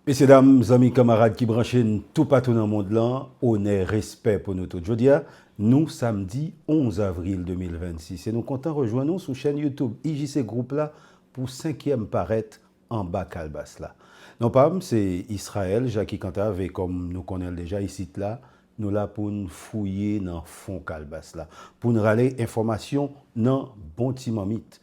Mesye dam, zanmi kanmarad ki branche n toupatou nan mond lan, onè, respè pou nou tout. Jodi a, nou samdi 11 avril 2026 e nou kontan rejwenn ou sou chèn YouTube IJC Group la pou senkyèm parèt Anba Kalbas la. Non pa m se Israël Jacky Cantave e kòm nou konnen l deja isit la, nou la pou n fouye nan fon kalbas la, pou n rale enfòmasyon nan bon ti manmit.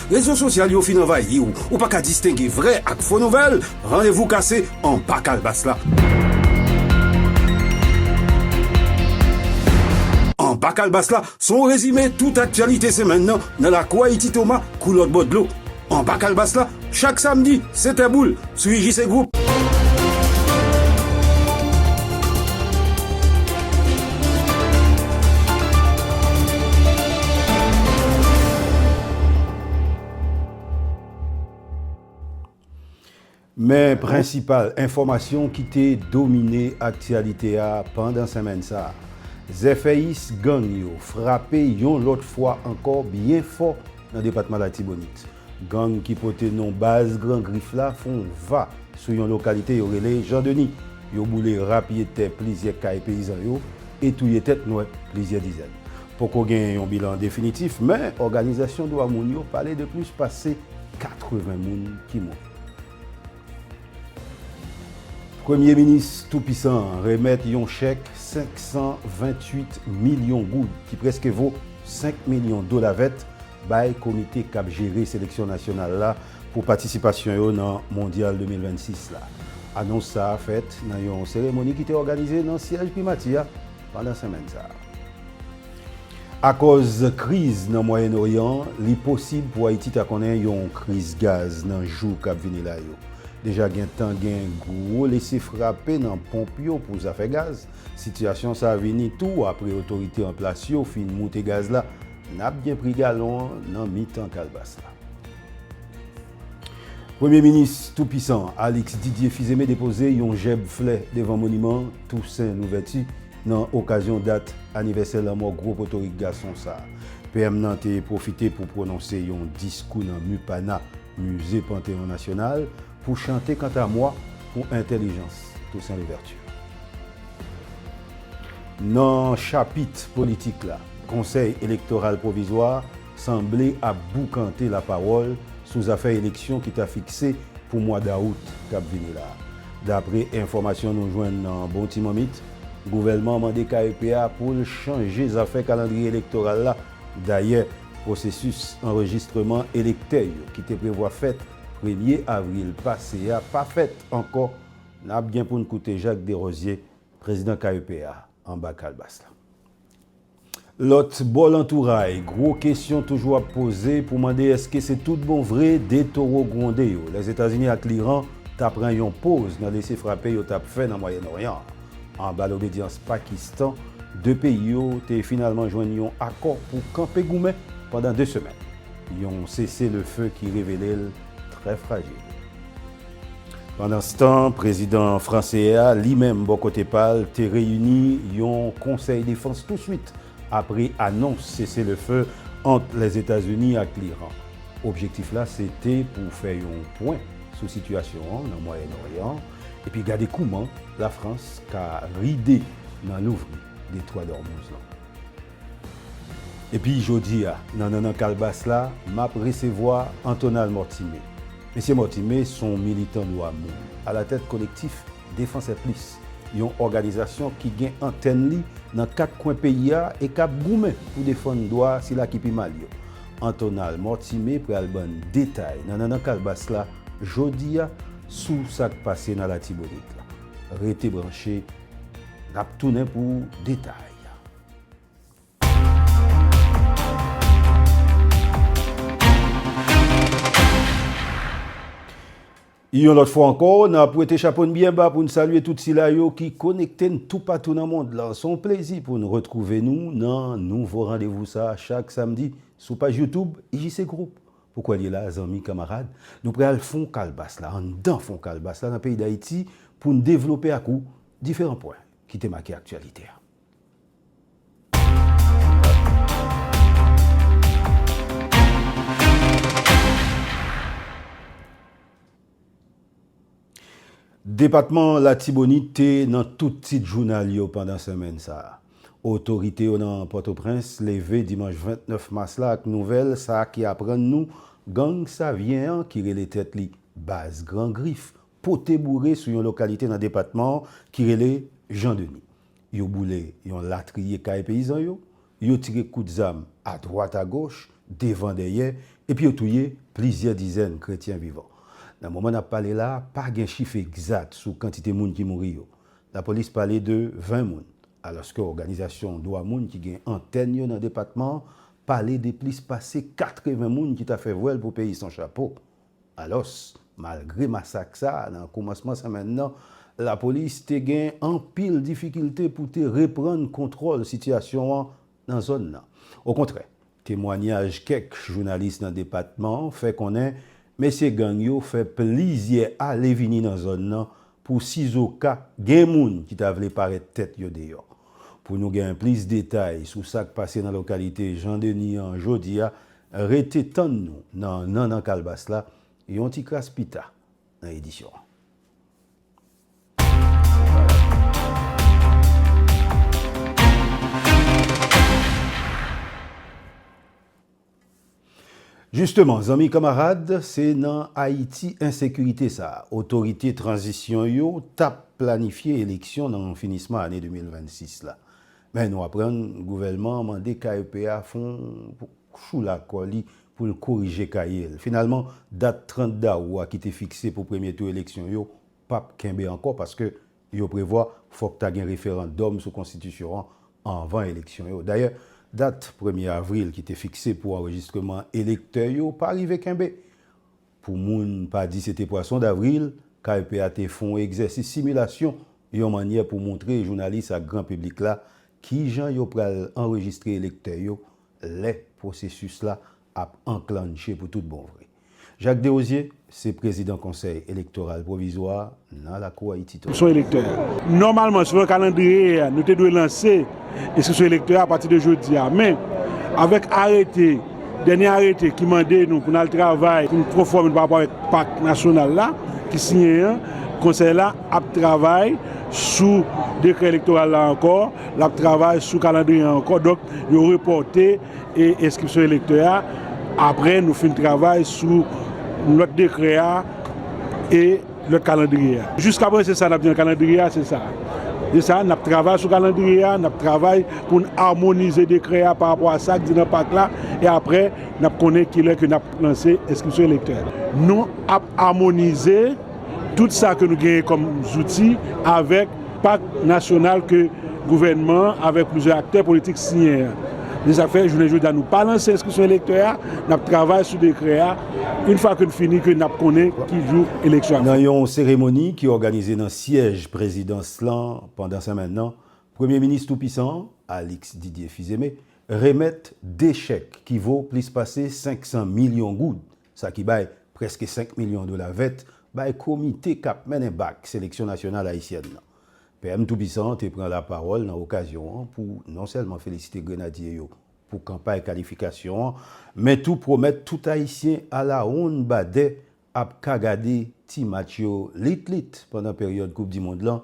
Rezo sosyal yo fin anvayi w, ou pa ka distenge vrè ak fo nouvèl, randevou kase anba kalbas la. Anba kalbas la se yon rezime tout aktyalite semenn nan nan lakou Ayiti Toma kou lòt bò dlo. Anba kalbas la chak samdi 7 è boul. sou UJC Group. Men prensipal enfòmasyon ki te domine aktyalite a pandan senmenn sa a. Zèfèyis gang yo frape yon lòt fwa ankò byen fò nan depatman Latibonit. Gang ki pote non baz Gran Grif la fon va sou yon lokalite yo rele Jan Deni. Yo boule rapye tè plizyè kay peyizan yo e touye tèt nwè plizyè dizèn. Poko genyen yon bilan definitif men òganizasyon dwa moun yo pale de plis pase 80 moun ki mouri. Premye minis tou pisan an remèt yon chèk 528 milyon goud ki prèske vo 5 milyon dola vèt bay komite k ap jere seleksyon nasyonal la pou patisipasyon yo nan Mondyal 2026 la. Anons sa a fèt nan yon seremoni ki te òganize nan syèj Primati a pandan senmenn sa a. Akòz kriz nan Mwayen Oryan, li posib pou Ayiti ta konnen yon kriz gaz nan jou k ap vini la yo. Deja gentan gen gwo lese frape nan ponp yo pou zafè gaz. Sitiyasyon sa a vini tou apre otorite an plas yo fin moute gaz la, N ap gen pri galon an nan mitan kalbas la. Premye minis tou pisan an, Alix Didier Fizeme depoze yon jèb flè devan moniman Tousen Louvèti nan okazyon dat anivèsè lanmò gwo potorik gason sa. PM nan te pwofite pou pwononse yon diskou nan MUPANA, Musée Panthéon National, Pou chante kanta mwa pou entelijans Toussaint Louverture. Nan chapit politik la, Konsèy Elektoral Pwovizwa a sanble ap boukante lapawòl sou zafè eleksyon ki ta fikse pou mwa dawout k ap vini la. Dapre enfòmasyon nou jwenn nan bon ti manmit, gouvèlman an mande KEP a pou l chanje zafè kalandriye elektoral la. Dayè, pwosesis anrejistreman elektè yo ki te prevwa fèt Premye avril pase a pa fèt ankò, n ap gen pou n koute Jacques Derosier, prezidan KEP a, anba kalbas la. Lòt bò lantouray, gwo kesyon toujou ap poze pou mande èske se tout bon vre 2 towo gwonde yo, Lèzetazini ak Liran, ta pran yon poz nan lese frape yo t ap fè nan Mwayenn Oryan an. Anba lobedyans Pakistan, 2 peyi yo te finalman jwenn yon akò pou kanpe goumen pandan 2 semèn. Yon sese le feu ki revele l trè frajil. Pandanstan, prezidan franse a, li menm bò kote pa l, te reyini yon konsèy defans touswit apre anons sese le feu ant Lèzetazini ak Liran. Objektif la se te pou fè yon pwen sou sitiyasyon an nan Mwayen Oryan epi gade kouman Lafrans ka ride nan louvri Detwa Dòmouz lan. Epi jodi a, nan Nannan Kalbas la, m ap resevwa Antonal Mortimé. Mesye Mortimé s on militan dwa moun, alatèt Kolektif Défenseurs Plus, yon òganizasyon ki gen antèn li nan kat kwen peyi a e k ap goumen pou defann dwa sila ki pi mal yo. Antonal Mortimé pral ban n detay nan Nannan Kalbas la jodi a sou sa k pase nan Latibonit la. Rete branche, n ap tounen pou detay. Yon lòt fwa ankò, n ap wete chapo n byen ba pou n salye tout sila yo ki konekte n toupatou nan mond lan. Se yon plezi pou n retwouve nou nan nouvo randevou sa a chak samdi sou paj YouTube IJC Group. Pou kò l ye la a, zanmi, kamarad, nou pre al fon kalbas la, anndan fon kalbas la nan peyi Dayiti pou n devlope ak ou diferan pwen ki te make aktyalite a. Depatman Latibonit te nan tout tit jounal yo pandan senmenn sa a. Otorite yo nan Pòtoprens leve dimanch 29 mas la ak nouvèl sa ki aprann nou gang Savyen an ki rele tèt li Baz Gran Grif pote boure sou yon lokalite nan depatman an ki rele Jan Deni. Yo boule yon latriye kay peyizan yo, yo tire kout zam adwat agoch, devan dèyè, epi yo touye plizyè dizèn kretyen vivan. Nan moman n ap pale la a, pa gen chif egzat sou kantite moun ki mouri yo. Lapolis pale de 20 moun, alòske òganizasyon dwa moun ki gen antèn yo nan depatman an pale de plis pase 80 moun ki ta fè vwèl pou peyi san chapo, Alòs, malgre masak sa a nan koumansman senmenn nan, lapolis te gen anpil difikilte pou te reprann kontwòl sitiyasyon an nan zòn nan. Okontrè, temwanyaj kèk jounalis nan depatman an fè konnen mesye gang yo fè plizyè ale vini nan zòn nan pou sizoka gen moun ki ta vle parèt tèt yo deyò. Pou nou gen plis detay sou sa k pase nan lokalite Jan Deni an jodi a, Rete tann nou nan Nannan Kalbas la yon ti kras pi ta nan edisyon an. Jisteman, zanmi kanmarad, se nan Ayiti ensekirite sa a otorite tranzisyon yo t ap planifye eleksyon nan finisman ane 2026 la. Men nou aprann gouvèlman an mande KEP a fon choula kò li pou l korije kaye l. Finalman, dat 30 dawou a ki te fikse pou premye tou eleksyon yo pap kenbe ankò paske yo prevwa fòk ta gen referandòm sou konstitisyon an anvan eleksyon yo. Dayè, dat premye avril ki te fikse pou anrejistreman elektè yo pa rive kenbe. Pou moun pa di se te pwason davril, KEP a te fon w egzèsis similasyon yon mannyè pou montre jounalis ak gran piblik la kijan yo pral anrejistre elektè yo lè pwosesis la ap anklannche pou tout bon vre. Jacques Desrosiers se prezidan Konsèy Elektoral Pwovizwa a. Nan lakou Ayiti tou. Enskripsyon elektè. Nòmalman, selon kalandriye a, nou te dwe lanse enskripsyon elektè a pati de jodi a. Men, avèk arete, dènye arete ki mande nou pou n al travay pou n konfòme nou pa rapò avèk pak nasyonal la ki siyen an, Konsèy la ap travay sou dekrè elektoral la ankò, l ap travay sou kalandriye an ankò. Donk, yo repòte enskripsyon elektè a apre nou fin travay sou lòt dekrè a e. lòt kalandriye a. Jiskaprezan se sa n ap di nan kalandriye a se sa a. Se sa a, n ap travay sou kalandriye a, n ap travay pou n amonize dekrè a parapò a sa k di nan pak la e aprè n ap konnen kilè ke n ap lanse enskripsyon elektè. Nou ap amonize tout sa ke nou genyen kòm zouti avèk pak nasyonal ke gouvènman an avèk plizyè aktè politik siyen an. Se sa k fè jounen jodi a nou pa lanse enskripsyon elektè a, n ap travay sou dekrè a. Une fois que n fini que nap konnen ki jou eleksyon ap fèt. Nan yon seremoni ki òganize nan syèj prezidans lan pandan senmenn nan, premye minis tou pisan an, Alix Didier Fils-Aimé, remèt 2 chèk ki vo plis pase 500 milyon goud, sa ki bay prèske 5 milyon dola vèt, bay komite k ap mennen bak seleksyon nasyonal ayisyèn nan. PM tou pisan an te pran lapawòl nan okazyon an pou non sèlman felisite grenadye yo pou kanpay kalifikasyon an, men tou pwomèt tout Ayisyen alawonn badè ap ka gade ti match yo lit lit pandan peryòd koup dimond lan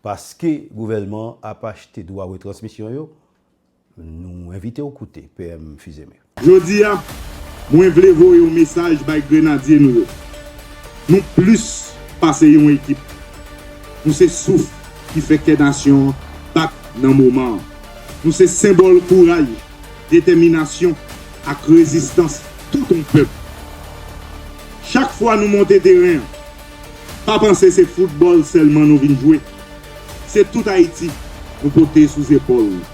paske gouvèlman an ap achte dwa retransmisyon yo, nou envite w koute PM Fils-Aimé. Jodi a, mwen vle voye yon mesaj bay Grenadye nou yo. Nou plis pase yon ekip. Nou se souf ki fè kè nasyon an bat nan moman an. Nou se senbòl kouray, detèminasyon ak rezistans tout yon pèp. Chak fwa nou monte teren an, pa panse se foutbòl sèlman nou vin jwe, se tout Ayiti nou pote sou zepòl nou.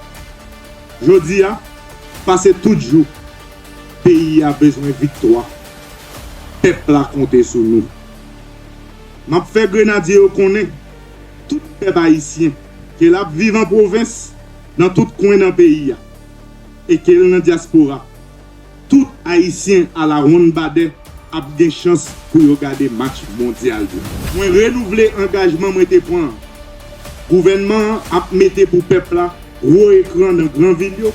Jodi a, pase tout jou, peyi a bezwen viktwa, pèp la konte sou nou. M ap fè Grenadye yo konnen, tout pèp ayisyen, Ke l ap viv an pwovens, nan tout kwen nan peyi a, e ke l nan dyaspora, tout Ayisyen alawonn badè ap gen chans pou yo gade match Mondyal yo. Mwen renouvle angajman mwen te pran an. Gouvènman an ap mete pou pèp la gwo ekran nan gran vil yo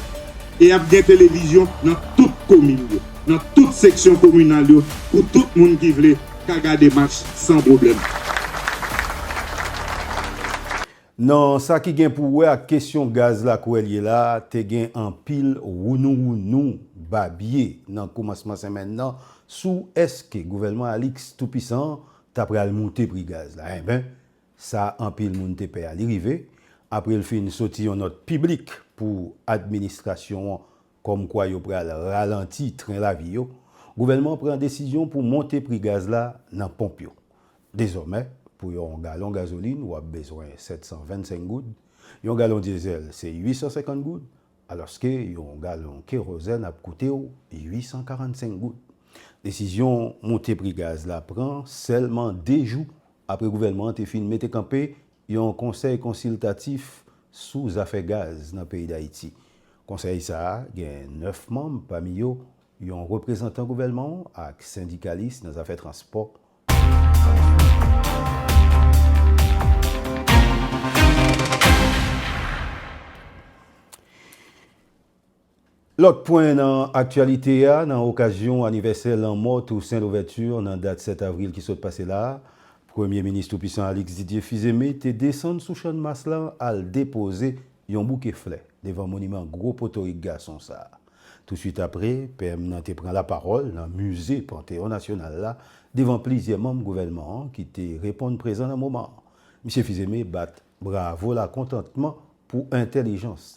e ap gen televizyon nan tout komin yo, nan tout seksyon kominal yo pou tout moun ki vle ka gade match san pwoblèm. Nan sa ki gen pou wè ak kesyon gaz la kou el ye la, te gen anpil wounouwounou babye nan koumansman senmenn nan sou eske gouvènman Alix toupisan an ta pral moute pri gaz la. Enben, sa anpil moun te pè a li rive, apre l fin soti yon nòt piblik pou administrasyon an Kòmkwa yo pral ralanti tren lavi yo, gouvènman an pran desizyon pou monte pri gaz la nan ponp yo. Dezòmè, pou yon galon gazolin w ap bezwen 725 goud, yon galon dyezèl se 850 goud, alòske yon galon kerozèn ap koute w 845 goud. Desizyon monte pri gaz la pran sèlman 2 jou apre gouvènman an te fin mete kanpe Yon konsèy konsiltatif sou zafè gaz nan peyi Dayiti. Konsèy sa a gen 9 manm pami yo yon reprezantan gouvèlman w ak sendikalis nan zafè transpò. Lòt pwen nan aktyalite a, nan okazyon anivèsè lanmò Toussaint Louverture nan dat 7 avril ki sot pase la, Premye Minis tou pisan Alix Didier Fils-Aimé te desann sou Channmas lan al depoze yon bouke flè devan moniman gwo potorik gason sa. Touswit apre, PM nan te pran lapawòl nan Mize Panteon Nasyonal la devan plizyè manm gouvènman an ki te reponn prezan nan moman an. Misye Fils-Aimé bat bravo lakontantman pou entèlijans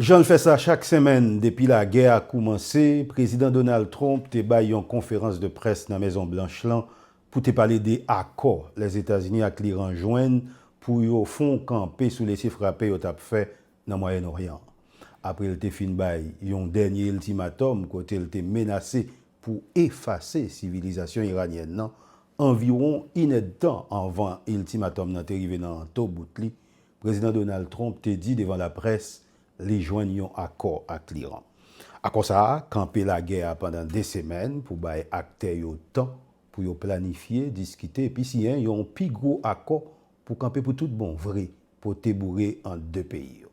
Jan l fè sa chak senmenn depi lagè a koumanse, Prezidan Donald Trump te bay yon konferans de près nan Mezon Blanch lan pou te pale de akò Lèzetazini ak Liran jwenn pou yo fon kanpe sou lese frape yo t ap fè nan Mwayenn Oryan an. Apre l te fin bay yon dènye iltimatòm kote l te menase pou efase sivilizasyon iranyèn nan, anviwon inèdtan anvan iltimatòm nan te rive nan to bout li, Prezidan Donald Trump te di devan laprès li jwenn yon akò ak l'Iran. Akò sa a kanpe lagè a pandan 2 semèn pou bay aktè yo tan pou yo planifye, diskite epi siyen yon pi gwo akò pou kanpe pou tout bon vre pote boure ant 2 peyi yo.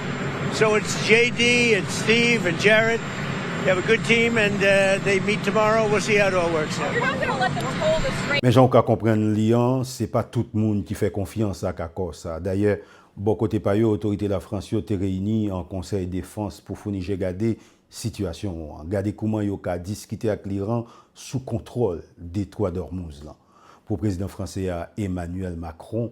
So it's JD and Steve and Jarrett they have a good team and they meet tomorrow we'll see how it all works out. Men jan ou ka konprann li an, se pa tout moun ki fè konfyans ak akò sa a. Dayè, bò kote pa yo, otorite Lafrans yo te reyini an konsèy defans pou founi je gade sitiyasyon an, gade kouman yo ka diskite ak Liran sou kontwòl Detwa Dòrmouz lan, pou prezidan franse a Emmanuel Macron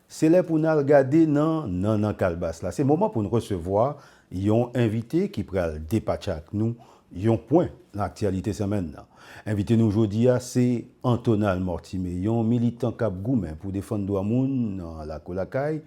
Se lè pou n al gade nan nannan kalbas la. Se moman pou n resevwa yon envite ki pral depatcha ak nou yon pwen nan aktyalite senmenn nan. Envite nou jodi a se Antonal Mortimé, yon militan k ap goumen pou defann dwa moun nan lakou lakay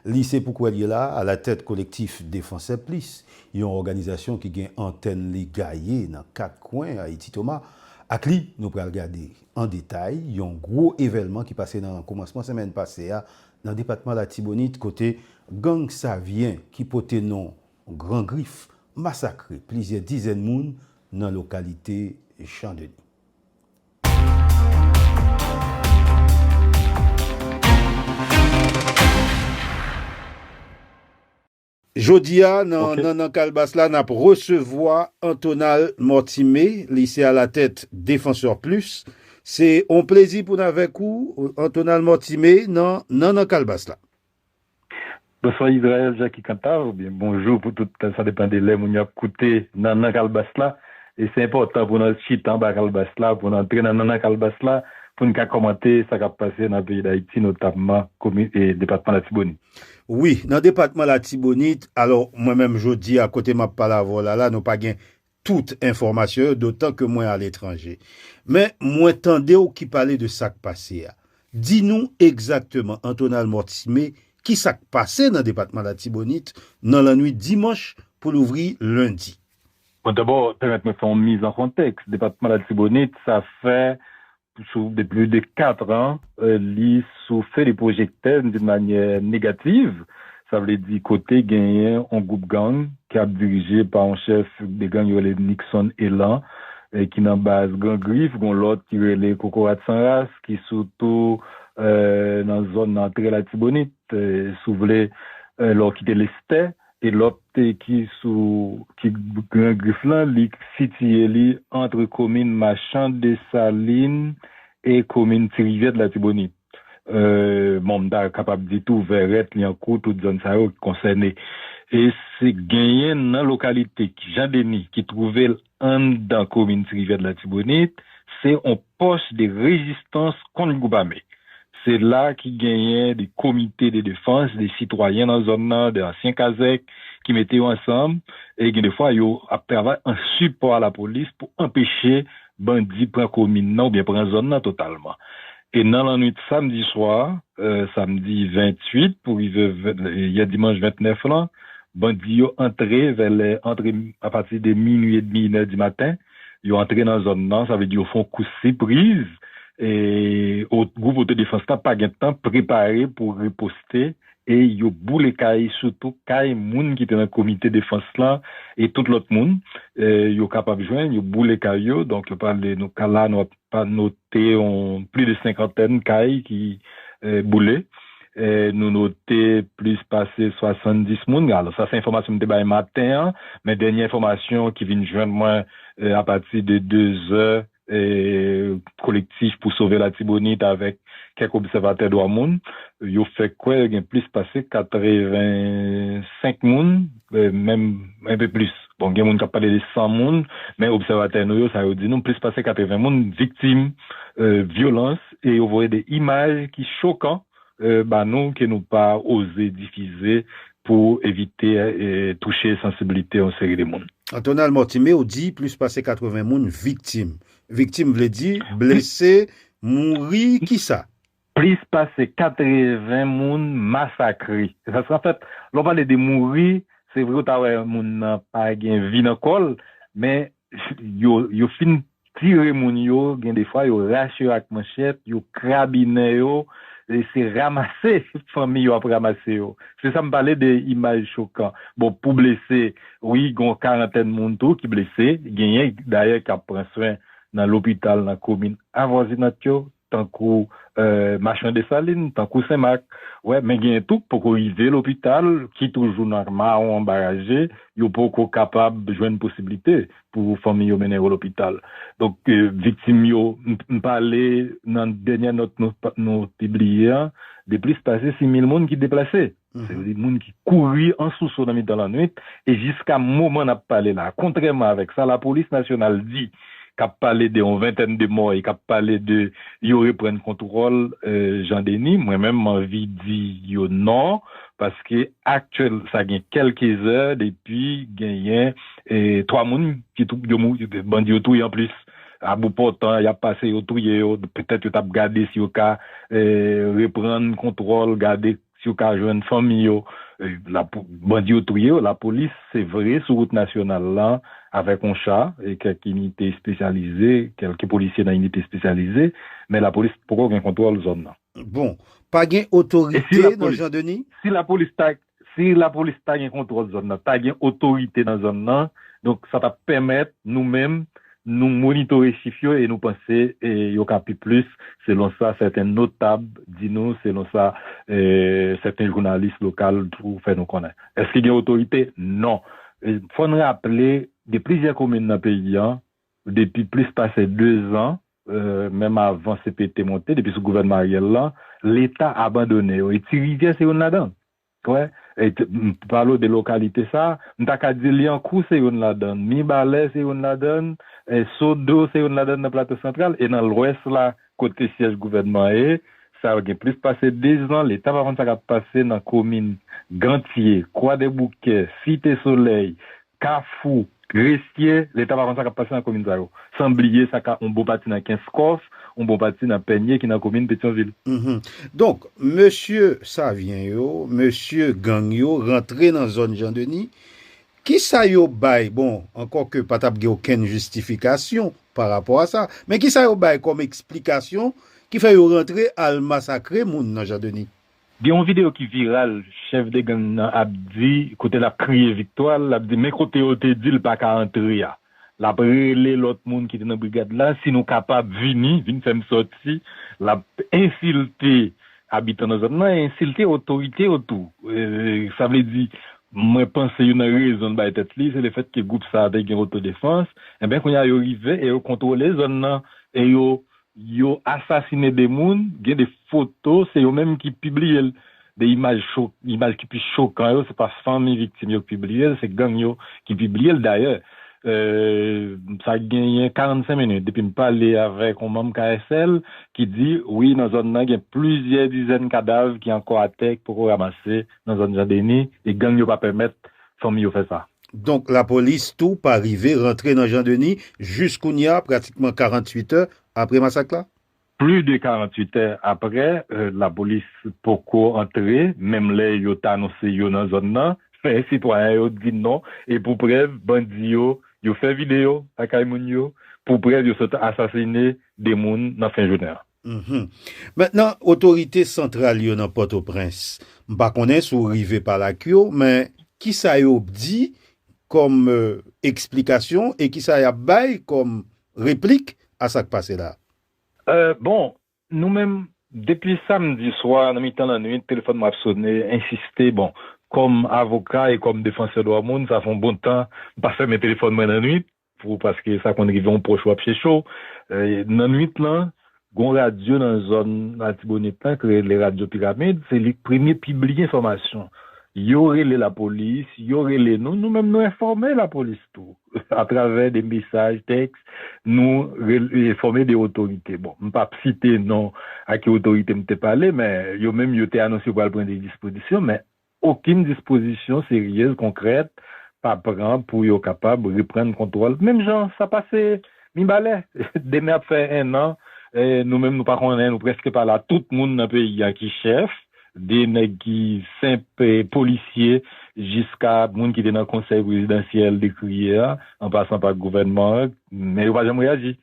li. Se pou kwè l ye la a alatèt Kolektif Defansè Plis, yon òganizasyon ki gen antèn li gaye nan kat kwen Ayiti. Toma ak li nou pral gade. An detay, yon gwo evèlman ki pase nan koumansman semèn pase a nan depatman Latibonit kote gang Savyen ki pote non Gran Grif masakre plizyè dizèn moun nan lokalite Jan Deni. Jodi a nan Nannan Kalbas la n ap resevwa Antonal Mortimé, li se alatèt Défenseurs Plus. Se yon plezi pou n avèk ou Antonal Mortimé nan Nannan Kalbas la. Bonswa Israël Jacky Cantave oubyen bonjou pou tout sa depan de lè moun yo ap koute Nannan Kalbas la e se enpòtan pou n al chita anba kalbas la pou n antre nan nannan kalbas la pou n ka kòmante sa k ap pase nan peyi Dayiti notamman komin e depatman Latibonit. Wi, nan depatman Latibonit, alò mwen menm jodi a kote map pale avè w la la nou pa gen tout enfòmasyon yo dotan ke mwen aletranje. Men mwen tande w ki pale de sak pase a. Di nou egzakteman Antonal Mortimé ki sak pase nan depatman Latibonit nan lannwit dimanch pou louvri lendi. Bon dabò pèmèt mwen fè yon miz an kontèks, depatman Latibonit sa fè Sou depi plis de 4 an, li sou fe de pwojektè d'une manière négative, sa vle di kote genyen on gwoup gang ki ap dirije pa on chèf de gang yo rele Nixon Elan ki nan baz Gran Grif, gon lòt ki rele Kokorat San Ras ki sou tou nan zòn nan antre Latibonit, si w vle lè w kite Lestè, Pelòp ki sou ki Gran Grif lan, li sitiye li antre komin Machan Desalin e komin Ti Rivyè d'Latibonit. Bon m ta kapab di tou Vèrèt, Lyankou, tout zòn sa yo ki konsène. E se genyen nan lokalite Jan Deni ki twouve l Anndan komin Tirivè Latibonit, se on pòs de rezistans kont gwoup ame. Se la ki genyen de komite de defans, de sitwayen nan zòn nan, de ansyen kazèk ki mete yo ansanm e gen de fwa yo ap travay an sipò a lapolis pou anpeche bandi pran komin nan oubyen pran zòn nan totalman. E nan lannwit samdi swa, samdi 28 pou rive yè dimanch 29 lan, bandi yo antre vè lè antre apati de minui edmi inè di maten, yo antre nan zòn nan, sa vle di yo fon kou sipriz, e gwoup otodefans la pa gen tan prepare pou riposte e yo boule kay sitou kay moun ki te nan komite defans lan e tout lòt moun yo kapab jwenn, yo boule kay yo, donk yo pale nou ka la nou ap. ta note yon plis de senkantèn kay ki boule. Nou note plis pase 70 moun. Alò sa se enfòmasyon m te bay maten an, men dènye enfòmasyon ki vin jwenn mwen apati de dezè, Kolektif pou sove Latibonit avèk kèk obsèvatè dwa moun, yo fè kwè gen plis pase 85 moun, menm enpe plis. Bon, gen moun k ap pale de 100 moun, men obsèvatè nou yo, sa yo di nou, plis pase 80 moun viktim vyolans e yo voye de imaj ki chokan ba nou ke nou pa oze difize pou evite touche sansiblite yon seri de moun. Antonal Mortimé, ou di plis pase 80 moun viktim. Viktim vle di blese, mouri, kisa? Plis pase 80 moun masakre. Paske anfèt, lè w pale de mouri, se vre ou ta wè moun nan pa gen vi nan kò l, men yo fin tire moun yo, gen de fwa yo rache yo ak manchèt, yo krabinen yo, se ramase fanmi yo ap ramase yo. Se sa m pale de imaj chokan. Bon, pou blese, wi, gen yon karantèn moun tou ki blese, genyen dayè k ap pran swen nan lopital nan komin avwazinant yo. tankou Machan Desalin, tankou Senmak, wè men genyen tou k poko rive lopital ki toujou nan mawon anba raje, yo poko kapab jwenn posiblite pou fanmi yo mennen yo lopital. Donk viktim yo, m pale nan dènyè nòt nou pibliye an de plis pase 6 mil moun ki deplase. Se vle di moun ki kouri an sousou nan mitan lannwit e jiska moman nap pale la kontrèman avèk sa lapolis nasyonal di kap pale de yon ventèn de mò e kap pale de yo reprann kontwòl Jan Deni mwen menm m anvi di yo non paske aktyèl sa gen kèlke zè depi genyen 3 moun ki bandi yo touye anplis a bout pòtan yap pase yo touye yo petèt yo tap gade si yo ka reprann kontwòl gade Si yo ka jwenn fanmi yo, bandi yo touye yo. Lapolis se vre sou wout nasyonal la avèk yon cha e kèk inite espesyalize, kèlke polisye nan inite espesyalize, men lapolis poko gen kontwòl zòn nan. Bon, pa gen otorite nan Jean Denis? Si lapolis ta, si lapolis ta gen kontwòl zòn nan, ta gen otorite nan zòn nan, donk sa t ap pèmèt nou menm Nou monitore chif yo e nou panse yo ka pi plis, selon sa sèten notab di nou, selon sa sèten jounalis lokal tou fè nou konnen. Èske gen otorite? Non. Fò n raple, gen plizyè komin nan peyi an, depi plis pase dezan, menm avan CPT monte, depi sou gouvènman Ariel lan, Leta abandone yo e Ti Rivyè se youn ladan l. Pwen, e t, m pale w de lokalite sa a, m ta ka di Lyankou se youn ladan l, Mibalè se youn ladan l, e Sodo se youn ladan l nan Plato Santral, e nan Lwès la kot ke syèj gouvènman an ye, sa gen plis pase 2 zan, Leta pa konn sa k ap pase nan komin Gantye, Kwadèboukè, Site Solèy, Kafou, Gresye, Leta pa konn sa k ap pase nan komin sa yo. San bliye sa ka yon bon pati nan Kenskòf, yon bon pati nan Pènye ki nan komin Petyonvil. Donk, mesye Savyen yo, mesye gang yo rantre nan zòn Jandeni, ki sa yo bay, bon, ankò ke pa t ap gen okenn jistifikasyon pa rapò a sa, men ki sa yo bay kòm eksplikasyon ki fè yo rantre al masakre moun nan Jandeni? Gen yon video ki viral chèf de gang nan ap di kote lap kriye viktwa l, lap di men kote yo te di l pa ka antre a. Lap rele lòt moun ki te nan brigad la si nou kapab vini, vin fè m sòti. Lap ensilte abitan nan zòn nan e ensilte otorite yo tou. Sa vle di mwen panse youn nan rezon l bay tèt li se lefèt ke gwoup sa te gen otodefans. Enben kounye a yo rive e yo kontwole zòn nan e yo Yo asasine 2 moun, gen 2 foto, se yo menm ki pibliye l. 2 imaj cho, imaj ki pi chokan yo, se pa fanmi viktim yo ki pibliye l, se gang yo ki pibliye l. Dayè, sa genyen 45 minit depi m pale avèk yon manm KSL ki di, wi nan zòn nan gen plizyè dizèn kadav ki ankò atè ki poko ranmase nan zòn Jan Deni e gang yo pa pèmèt fanmi yo fè sa. Donk lapolis tou pa rive rantre nan Jean Denis jis kounya pratikman 48 è apre masak la? Pli de 48 è apre lapolis poko antre menm lè yo t anonse yo nan zòn nan men sitwayen yo di non e pou prèv bandi yo yo fè video lakay moun yo pou prèv yo sot asasine 2 moun nan fen jounen an. Maintenant otorite santral yo nan Pòtoprens, m pa konnen si w rive pale ak yo, men kisa yo di kòm eksplikasyon e kisa y ap bay kòm replik a sa k pase la? Bon, nou menm, depi samdi swa nan mitan lannuit telefòn mwen ap sone, ensiste, bon, kòm avoka e kòm defansè dwa moun, sa fè yon bon tan m pa fèmen telefòn mwen lannuit, Pou paske sa konn rive yon pwòch ou ap chèche w. Nan nuit lan, gon radyo nan zòn Latibonit lan ki rele Radyo Piramid, se li k premye pibliye enfòmasyon. Yo rele lapolis, yo rele nou, nou menm nou enfòme lapolis tou atravè de mesaj tèks, nou enfòme de otorite. Bon, m pap site non a ki otorite m te pale men yo menm yo te anonse yo pral pran de dispozisyon men Okenn dispozisyon seryèz konkrèt pa pran pou yo kapab reprann kontwòl menm jan sa pase Mibalè. Demen ap fè ennan nou menm nou pa konnen, nou prèske pa la, tout moun nan peyi a ki chèf, de nèg ki senp polisye jiska moun ki te nan konsèy prezidansyèl dekriye a, an pasan pa gouvènman an, men yo pa janm reyaji.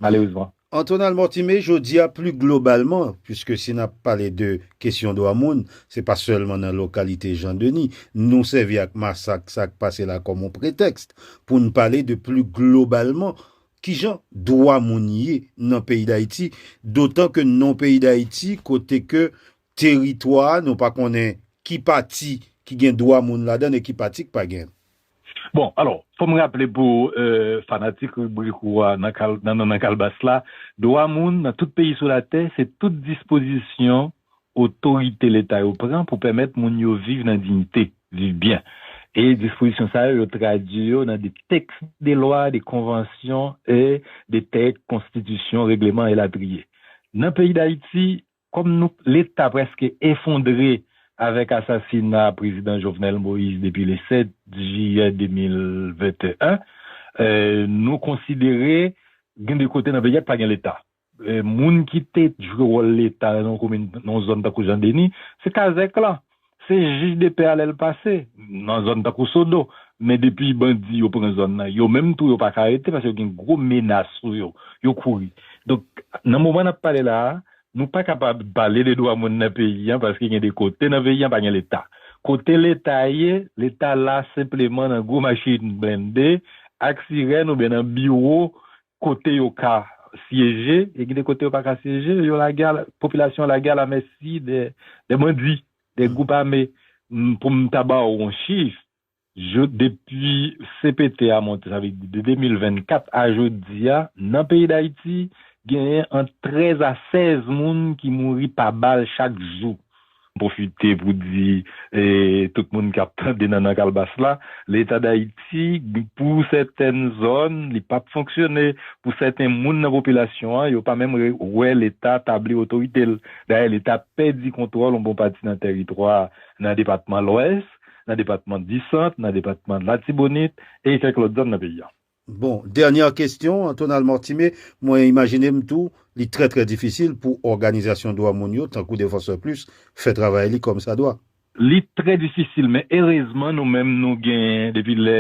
malerezman. Antonal Mortimé, jodi a pli globalman, puiske si n ap pale de kesyon dwa moun, se pa sèlman nan lokalite Jan Deni, nou sèvi ak masak sa k pase la kòm on pretèks pou n pale de pli globalman ki jan dwa moun ye nan peyi Dayiti, dotan ke n nan on peyi Dayiti kote ke Teritwa a, nou pa konnen ki pati ki gen dwa moun ladan l e ki pati k pa gen l. Bon, alò, fò m raple pou fanatik ribrik ou a nan Nan Kalbas la, dwa moun nan tout peyi sou latè se tout dispozisyon otorite leta yo pran pou pèmèt moun yo viv nan diyite, viv byen. E dispozisyon sa yo, yo tradui yo nan de tèks de lwa, de konvansyon e de tèks konstitisyon, regleman elatriye. Nan peyi Dayiti, Kòm nou leta prèske efondre avèk asasina prezidan Jovenel Moïse depi le 7 jiyè 2021, nou konsidere gen de kote nan peyi a ki pa gen leta. Moun ki te jwe wòl leta nan yon komin, nan yon zòn tankou Jan Deni, se kazèk lan. Se jij de pè a lè l pase nan zòn tankou Sodo. Men depi bandi yo pran zòn nan, yo menm tou yo pa ka rete paske yo gen gwo menas sou yo. Yo kouri. Donk, nan moman n ap pale la a, nou pa kapab pale de dwa moun nan peyi an paske gen de kote nan peyi an pa gen Leta. Kote Leta ye, Leta la senpleman nan gwo machin blende ak sirèn oubyen nan biwo kote yo ka syeje e gen de kote yo pa ka syeje, yo lage a, popilasyon an lage a lamèsi de, de bandi, de gwoup ame. Pou m ta ba ou yon chif, jo, depi cpt a monte, sa vle di de 2024 a jodi a, nan peyi Dayiti, genyen ant 13 a 16 moun ki mouri pa bal chak jou. M pwofite pou di tout moun k ap tande Nannan Kalbas la, Leta Dayiti pou sèten zòn li pa p fonksyone, pou sèten moun nan popilasyon an yo pa menm wè Leta tabli otorite l. Dayè Leta pèdi kontwòl yon bon pati nan tèritwa nan depatman Lwès, nan depatman Disant, nan depatman Latibonit e kèk lòt zòn nan peyi an. Bon, dènyè kestyon, Tonal Mortimé, mwen imajine m tou, li trè trè difisil pou òganizasyon dwa moun yo, tankou Défenseurs Plus, fè travay li kòm sa dwa. Li trè difisil, men erezman nou menm nou genyen, depi lè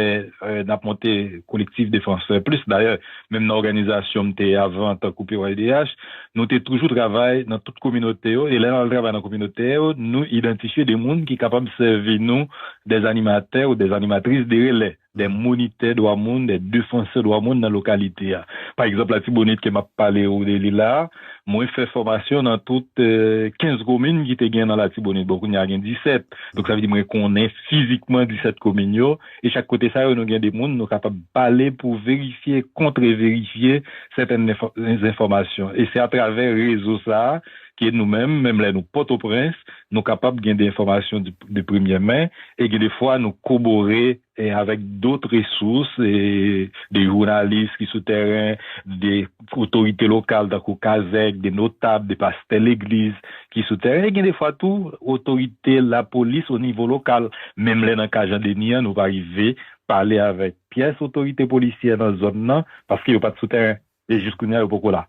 n ap monte Collectif Défenseurs Plus, dayè menm nan òganizasyon m te avan tankou PYDH, nou te toujou travay nan tout kominote yo, e lè n al travay nan kominote yo, nou idantifye de moun ki kapab sèvi nou dè animatè ou dè animatris de relais. de monitè dwa moun, de defansè dwa moun nan lokalite a. Pa egzanp Latibonit ke m ap pale ou de li la a, mwen fè fòmasyon nan tout 15 komin ki te gen nan Latibonit. Bon, kounye a gen 17. Donk sa vle di mwen konnen fizikman 17 komin yo. E chak kote sa yo nou gen de moun nou kapab pale pou verifye, kontreverifye sèten zenfòmasyon. E se atravè rezo sa a Paske nou menm, menm lè nou Pòtoprens, nou kapab gen de enfòmasyon de premyè men, e gen de fwa nou kobore avèk dot resous, de jounalis ki sou tèren, de otorite lokal tankou kazèk, de notab, de pastè legliz ki sou tèren, e gen de fwa tou otorite lapolis o nivo lokal. Menm lè nan ka Jan Deni an, nou pa rive pale avèk pyès otorite polisyè nan zòn nan, paske yo pa t sou tèren. E jis kounya yo poko la.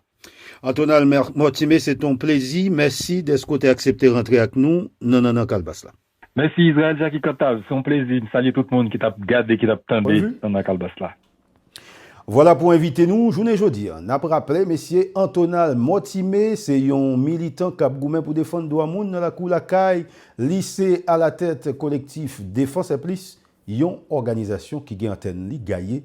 Antonal Mortimé se te yon plezi, mèsi dèske w te aksepte rantre ak nou nan Nannan Kalbas la. Mèsi Israël Jacky Cantave, se yon plezi, m salye tout moun ki t ap gade, ki t ap tande Nannan Kalbas la. Vwala pou envite nou jounen jodi an. N ap raple mesye Antonal Mortimé se yon militan k ap goumen pou defann dwa moun nan lakou lakay li, se alatèt kolektif Défense est plus, yon òganizasyon ki gen antèn li gaye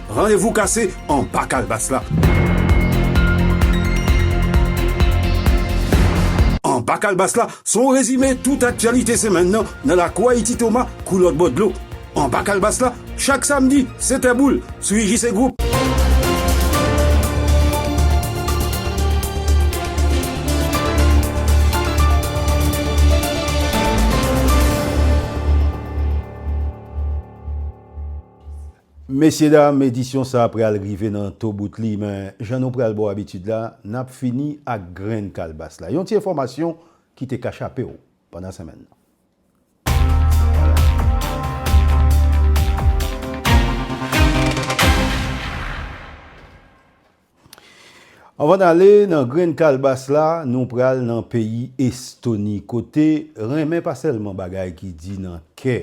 Randevou kase anba kalbas la. Anba kalbas la se yon rezime tout aktyalite semèn nan nan lakou Ayiti Toma kou lòt bò dlo. Anba kalbas la chak samdi 7 è boul sou IJC Group. Mesye dam edisyon sa pral rive nan to bout li men jan nou pral bo abitid la nap fini ak grenn kalbas la yon ti enfòmasyon ki te ka chapew pandan senmenn nan. Anvan n ale nan grenn kalbas la, nou pral nan peyi Estoni kote renmen pa sèlman bagay ki di nan kè,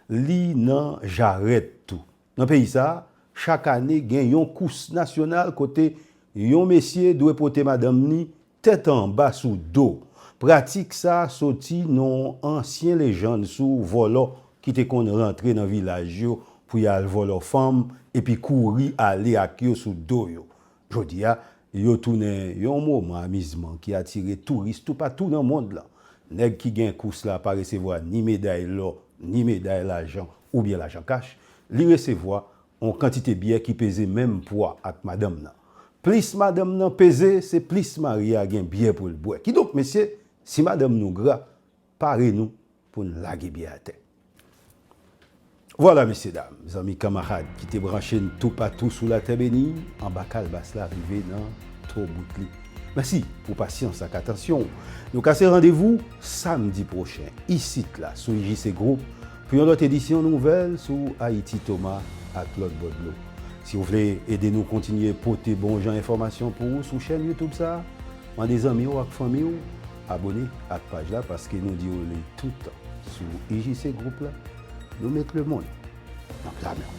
li nan jarèt tou. Nan peyi sa, chak ane gen yon kous nasyonal kote yon mesye dwe pote madanm ni Tèt anba sou do. Pratik sa soti nan yon ansyen lejann sou vòlò ki te konn rantre nan vilaj yo pou y al vòlò fanm epi kouri ale ak yo sou do yo. Jodi a, yo tounen yon moman amizman ki atire touris toupatou nan mond lan. Nèg ki gen kous la pa resevwa ni meday lò, ni meday lajan oubyen lajan kach, li resevwa On kantite byè ki peze menm pwa ak madanm nan. Plis madanm nan peze, se plis mari a gen byè pou l bwè. Kidonk mesye, si madanm nou gra, pare nou pou n lage byè atè. Vwala mesye dam, zanmi kanmarad ki te branche n toupatou sou latè beni, anba kalbas la rive nan to bout li. Mèsi pou pasyans ak atansyon w. Nou kase randevou samdi pwochen isit la sou IJC Group Pou yon lòt edisyon nouvèl sou Ayiti Toma ak lòt bò dlo. Si ou vle ede nou kontinye pote bon jan enfòmasyon pou ou sou chèn YouTube sa, mande zanmi ou ak fanmi ou abone ak paj la paske nou di ou li toutan sou IJC Group la, nou met lemonn nan pla men w.